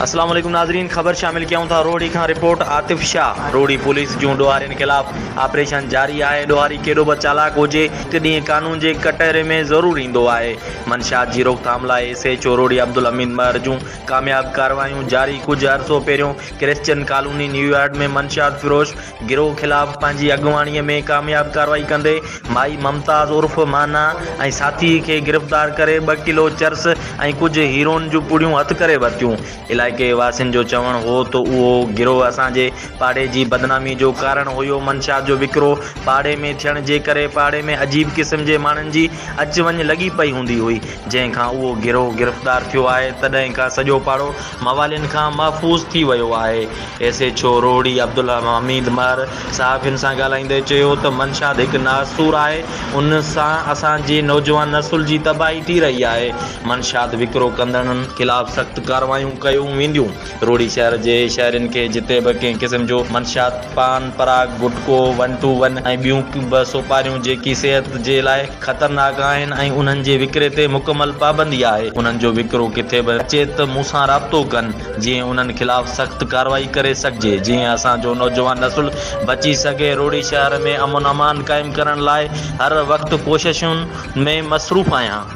اسلام عليڪم ناظرين خبر شامل ڪيون ٿا روهڙي کان رپورٽ عاطف شاهه روهڙي پوليس جون ڏوهارين خلاف آپريشن جاري آهي ڏوهاري ڪيڏو به چالاڪ هجي هڪ ڏينهن قانون جي ڪٽهري ۾ ضرور ايندو آهي منشيات جي روڪٿام لاء S H O Rohri Abdul Hamid Mahar جون ڪامياب ڪارروايون جاري ڪجهه عرصو پهريون ڪرسچن ڪالوني نيويارڊ ۾ منشيات فروش گروهه خلاف پنهنجي اڳواڻي ۾ ڪامياب ڪارروائي ڪندي مائي ممتاز عرف مانا ۽ ساٿي کي گرفتار ڪري ٻه ڪلو چرس ۽ ڪجهه هيروئن جون پڙيون هٿ ڪري ورتيون علائقي واسين جو چوڻ هو ته اهو گروهه اسان جي پاڙي جي بدنامي جو ڪارڻ هيو منشيات جو وڪرو پاڙي ۾ ٿيڻ جي ڪري پاڙي ۾ عجيب قسم جي ماڻهن جي اچ وڃ لڳي پئي هوندي هئي جنهن کان اهو گروهه گرفتار ٿيو آهي تڏهن کان سڄو پاڙو موالين کان محفوظ ٿي ويو آهي. S H O Rohri Abdul Hamid Mahar صحافين سان ڳالهائيندي چيو ته منشاد هڪ ناسور آهي ان سان اسان جي نوجوان نسل جي تباهي ٿي رهي آهي منشاد وڪرو ڪندڙن خلاف سخت ڪارروايون ڪيون وينديون روهڙي شهر جي شهرين کي جتي به ڪنهن قسم جو منشاد پان پراگ گٽڪو ون ٽو ون ۽ ٻيون به سوپاريون جيڪي صحت جي لاء خطرناڪ آهن ۽ انهن جي وڪري تي مڪمل پابندي آهي انهن جو وڪرو ڪٿي به اچي ته مون سان رابطو ڪن. جيئن انهن خلاف سخت ڪارروائي ڪري سگهجي جيئن اسان جو نوجوان نسل بچي سگهي روھڙي شهر ۾ امن امان قائم ڪرڻ لاء هر وقت ڪوششن ۾ مصروف آهيان.